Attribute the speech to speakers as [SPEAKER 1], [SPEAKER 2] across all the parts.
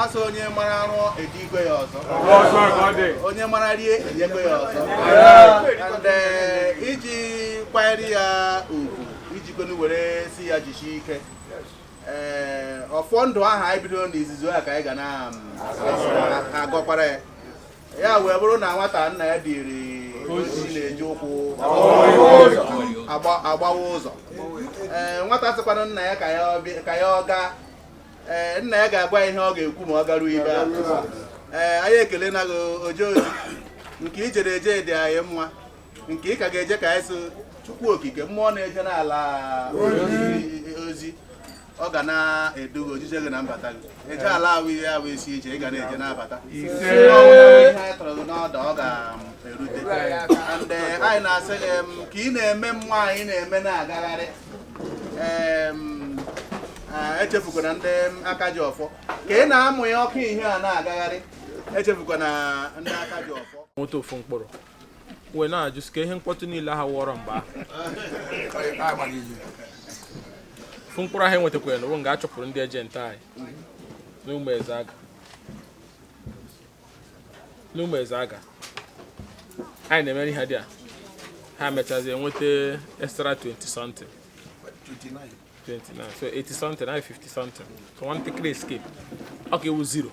[SPEAKER 1] asị onye mara arụ ejikwe ya ọzọ onye mara rie enyekwe ya ọzọ and eh, iji kwanyere ya ugwu iji kwenu were sị ya jisie ike ee eh, ọfọ ndụ ahụ anyị bidoro n'izizi a ka anyị ga na-agọkwara mm, ya ya wee bụrụ na nwata nna ya ziri ozi na-eji ụkwụ agbawa ụzọ ee eh, nwata sịkwanụ nna ya ka ya ọ gaa ee eh, nna ya ga-agwa ihe ọ ga-ekwu ma ọ garuo ibe a ee eh, anyị ekelena gị ojeozi nke i jere eje dị anyị mma nke ị ka ga-eje ka anyị sị chukwu okike mmụọ na-eje n'ala ozi ọ ga na-edu gị ojije gị na mbata gị eje ala wụ isi ije ị ga na-eje na-abata ihe anyị tọrọ gị n'ọdụ ọ ga-erute and eh, anyị na-asị gị em, ka ị na-eme mmụọ anyị na-eme na-agagharị em, ah, echefukwana ndị aka ji ọfọ ka ị na-amụnye ọkụ ihe a na-agagharị echefukwana ndị aka ji ọfọ nweta ofu mkpụrụ
[SPEAKER 2] wee na-ajụ sị ka ihe mkpọtụ niile ha wụọrọ mgbe ofu mkpụrụ ha enwetakwara na nga achụpụrụ ndị agent anyị n'ụmụezeaga anyị na-emere ihe there ha mechazie nweta extra 20 something 29 so 80 something and 50 something so nwantakịrị escape ọ ka ịwụ 0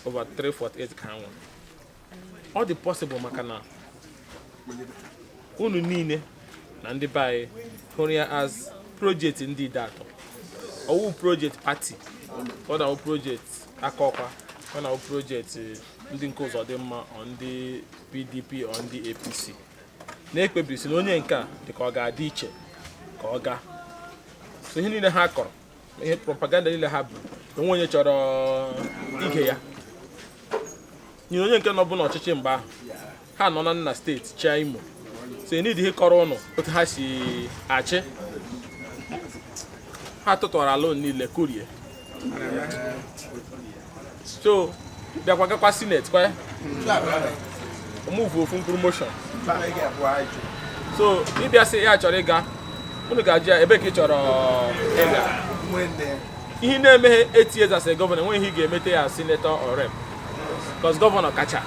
[SPEAKER 2] over 348 ka ha nwere ọ dị possible maka na unu niile na ndị be anyị hụrụ ya as project ndị ideato ọ wụ project party ọ na-awụ project akọkwa ọ na-awụ project ndị nke ụzọdịmma or ndị pdp or ndị apc na-ekpebi sị na onye nke a dị ka ọ ga-adị iche ka ọ gaa so ihe niile ha kọrọ ihe propaganda niile ha bụ o nwe onye chọrọ ige ya nyere onye nke nọbu n'ọchịchị mgbe ahụ ha nọ na nna state chịa imo so need ịkọrọ ụnụ otu ha si achị ha tụtụwara ala niile kurie so bịakwa gakwa senate kwa move ofu mkpụrụ motion so ị bịa sị ya chọrọ ịga unu ga-ajụ ya ebee ka ị chọrọ ịga ihe ị na-emeghe eight years as a governor enweghị ihe ị ga-emete ya senator or rep because governor kacha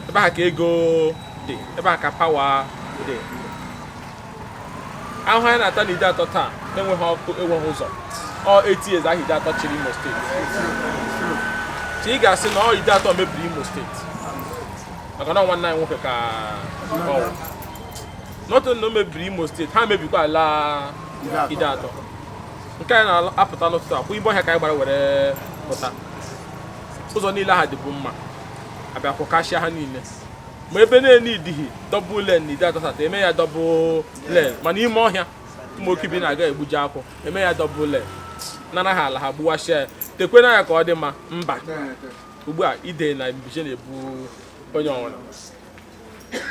[SPEAKER 2] ebe ahụ ka ego dị ebe ahụ ka power dị ahụ anyị na-ata na ideato taa enweghị ọkụ enweghị ụzọ ọ eight years ahụ ideato chịrị imo steeti ka ị ga-asị na ọ ideato mebiri imo steeti maka na nwanne anyị nwoke ka nọtụ na o mebiri imo steeti ha mebikwaala ideato nke anyị na-apụta n'ụtụtụ akwụ ime ọhịa ka anyị gbara were pụta ụzọ niile ha dịbu mma a bịa kwụkashịa ha niile ma ebe na-enidighi double lane na ideato south eme ya double lane mana ime ọhịa ụmụ oke bi na-aga egbuji akwụ eme ya double lane nara ha ala ha gbuwasịa ya tekwe na ya ka ọ dị mma mba ugbu a ide na mbize na-ebu onye ọ wụna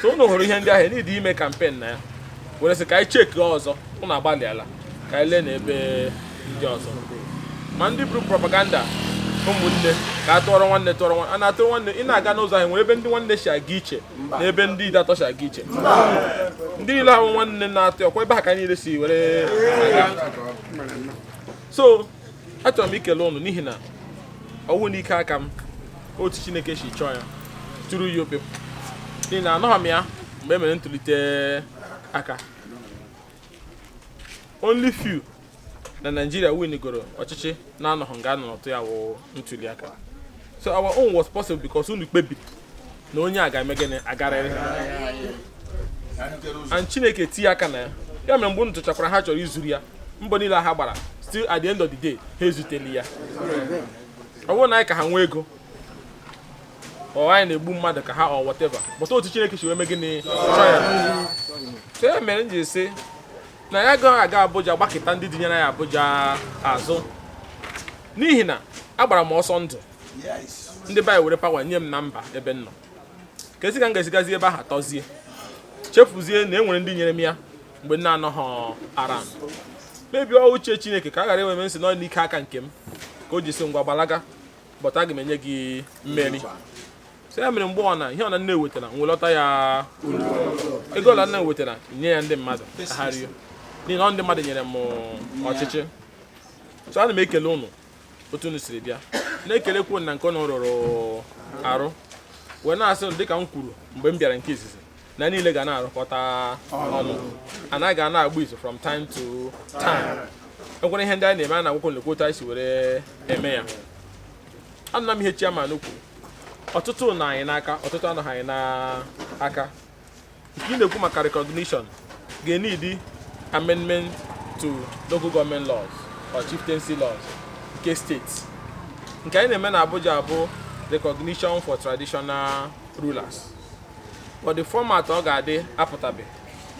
[SPEAKER 2] so unu hụrụ ihe ndị ahụ enidighi ime kampen na ya were sị ka anyị cheki ọzọ ụnụ agbalịala ka anyị lee na ebe ndị ọzọ ma ndị buru propaganda ụmụnne ka a tụọrọ nwanne tụọrọ nwanne a na-atụrụ nwanne ị na-aga n'ụzọ anyị nwere ebe ndị nwanne si aga iche na ebe ndị ideato si aga iche ndị niile ahụ nwanne na-atụ ọkwa ebe ahụ ka niile si were aga so achọrọ m ikele ụnụ n'ihi na ọ wụghị n'ike aka m otu chineke si chọọ ya tụrụ ya ope n'ihi na anọghị m ya mgbe e mere ntụlite aka only few na Nigeria winigoro ọchịchị na-anọghị nga a nọ na-atụ ya wụ ntuli aka so our own was possible because unu kpebiri na onye a ga-eme gịnị agarịrị and chineke tinye aka na ya ya mere mgbe unu tụchakwara ha chọrọ izuru ya mbọ niile ha gbara still at the end of the day ha ezuteli ya ọ bụghị na anyị ka ha nwee ego or anyị na-egbu mmadụ ka ha or whatever but otu chineke si wee mee gịnị chọọ ya so ya mere m ji sị na ya agaghị aga abuja gbakịta ndị dinyere ya abuja azụ n'ihi na agbara m ọsọ ndụ ndị be anyị were pawa nye m na m baa ebe m nọ ka esi ka m ga-esigazi ebe ahụ tọzie chefuzie na e nwere ndị nyere m ya mgbe m na-anọghị ara m mebie uche chineke ka a ghara enwe m nsị na ọ n'ike aka nke m ka o ji sị ngwa gbalaga but aga m enye gị mmeri so ya mere mgbe ọ na ihe ọ na m nwetara m welọta ya ụlọ ego ọla m nwetara nye ya ndị mmadụ ka ha rie n'ihi na ọ ndị mmadụ nyere m ọchịchị so ana m ekele ụnụ otu unu siri bịa na-ekelekwu na nke unu rụrụ arụ wee na-asị dịka m kwuru mgbe m bịara nke izizi na anyị niile ga na-arụkọta ọnụ anyị ga na-agba izu from time to time enwere ihe ndị anyị na-eme a na-agwakwa unu lekwa otu anyị si were eme ya anụna m ihe chairman kwuru ọtụtụ nọ anyị n'aka ọtụtụ anọghị anyị n'aka ị na-ekwu maka recognition ga-enidi amendment to local government laws or chieftaincy laws nke steeti nke anyị na-eme na Abuja bụ recognition for traditional rulers but the format ọ ga-adị apụtabe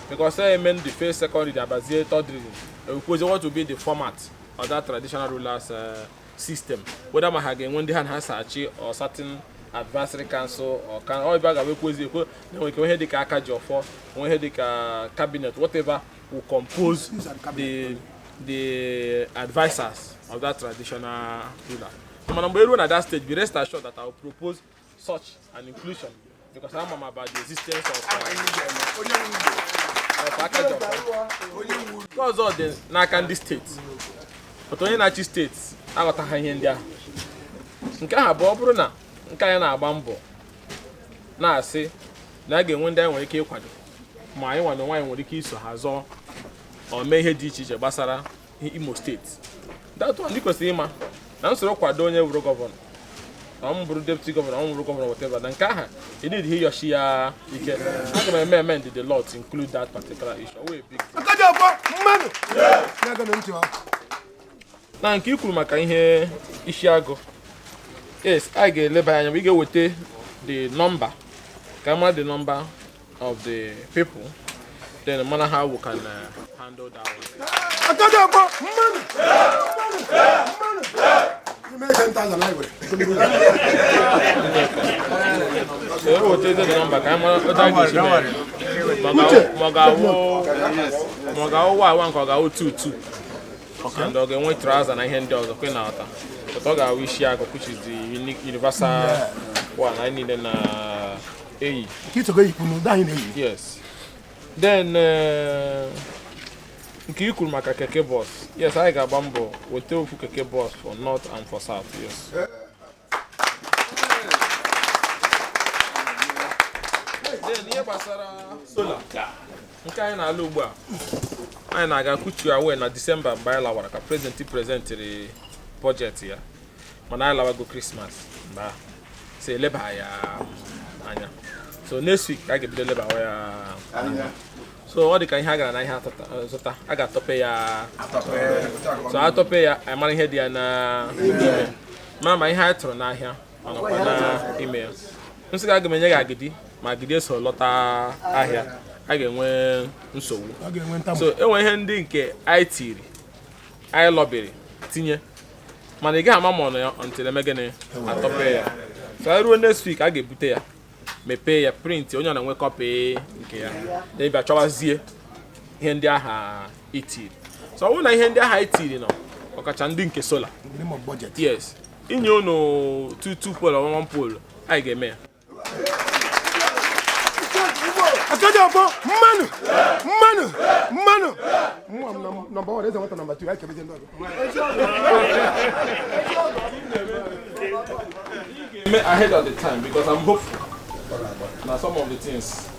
[SPEAKER 2] because e mee the first second reading abazie third reading ekwuzie what will be the format of that traditional rulers uh, system whether ma ha ga-enwe ndị ha na ha so achị or certain advisory council or ka ọ ebe a ga-abụ ekwezi ekwe na enwere ike ihe dịka aka ji ọfọ nwe ihe dịka cabinet whatever will compose the the advisors of that traditional ruler mana mgbe eruo na that stage be rest assured that I will propose such an inclusion because ama m about the existence of aka ji ọfọ because ọ dị n'aka ndị steeti but onye na-achị steeti aghọtaha ihe ndị ahụ nke ahụ bụ ọ bụrụ na nke anyị na-agba mbọ na-asị na a ga-enwe ndị anyị nwere ike ịkwado ma anyị nwa n'onwe anyị nwere ike iso ha zọọ or mee ihe dị iche iche gbasara Imo steeti that one kwesịrị ịma na m soro kwado onye wụrụ gọvanọ na ọ bụrụ deputi gọvanọ or bụrụ gọvanọ whatever na nke aha edid ihe yọchi ya ike aga m eme amend the law to include that particular issue wee bịa na nke i kwuru maka ihe isi agụ yes anyị ga-eleba anya ị ga-eweta the number ka a mara the number of the people, then no matter how we can uh, handle that one. and ọ ga-enwe trouser na ihe ndị ọzọ kwe na ọta but ọ ga-awụ isi agụ which is the universal one anyị niile na eyi ka ị sogo eyikwu n'ụdị anyị na-eyi yes then eh, nke i kwuru maka keke bọs yes anyị ga-agba mbọ wetakwu keke bọs for north and for south yes then ihe gbasara solar nke anyị na-alụ ugbu a anyị na-aga kuchu aware na disemba mgbe anyị lawara ka prezidenti prezentịrị bọjetị ya mana anyị lawago krismas mgbe a sị leba ya anya so next week ka a ga-ebido lebawa ya anya so ọ dị ka ihe a gara n'ahịa atata- eh, zụta a ga-atọpe ya so atọpe ya anyị mara ihe dị ya na ime ma ma ihe anyị tụrụ n'ahịa ọ nọkwa na ime ya m sị ka aga m enye gị agidi ma agidi eso lọta ahịa a ga-enwe nsogbu ọ ga-enwe ntamu so enwe ihe ndị nke anyị tiri anyị lọbiri tinye mana ị gaghị ama ma ọ nọ ya until eme gịnị atọpe ya so anyị ruo next week a ga-ebute ya mepee ya print onye ọ na-enwe copy nke ya then ị bịa chọwazie ihe ndị aha itiri so ọ bụrụ na ihe ndị aha itiri nọ ọkacha ndị nke solar n'ime budget yes inye unu 2 2 pole 1 pole anyị ga-eme ya
[SPEAKER 3] Akajiọfọ mmanụ mmanụ mmanụ nwa m number one eze nwata number two anyị kebezi ndị
[SPEAKER 2] ọgụ ahead of the time because I'm hopeful. Now some of the things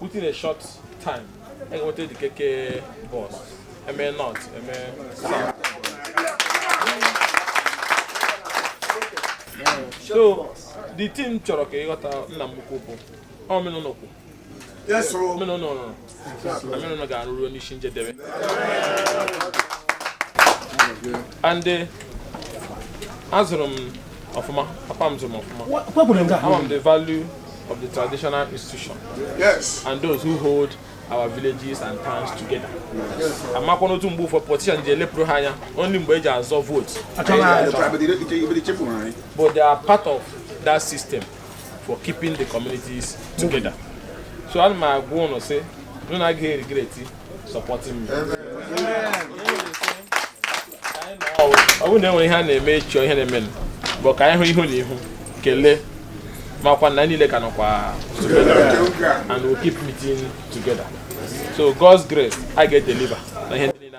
[SPEAKER 2] within a short time a ga-enweta the keke bus eme north eme south so the thing m chọrọ ka ị ghọta nna m ukwu bụ omenụlọ
[SPEAKER 3] kwu omenụlọ
[SPEAKER 2] rụrụ omenụlọ ga-arụ ruo n'isi njedebe and eh, azụrụ m ọfụma papa m zụrụ m ọfụma ama m the value of the traditional institution yes.
[SPEAKER 3] and those who
[SPEAKER 2] hold our villages and towns together. amakwa n'otu mgbe ụfọdụ politicians ji elepụrụ ha anya only mgbe e ji azọ vote but they are part of that system for keeping the communities together so ana m agwa ụnụ sị na ụnụ agaghị regret supporting me. ọ bụrụ na e nwere ihe a na-eme ị chọọ ihe na-emenụ but ka anyị hụ ihu na ihu kelee makwa na anyị niile ka nọkwa and we keep meeting together so God's grace a ga-edeliver na ihe niile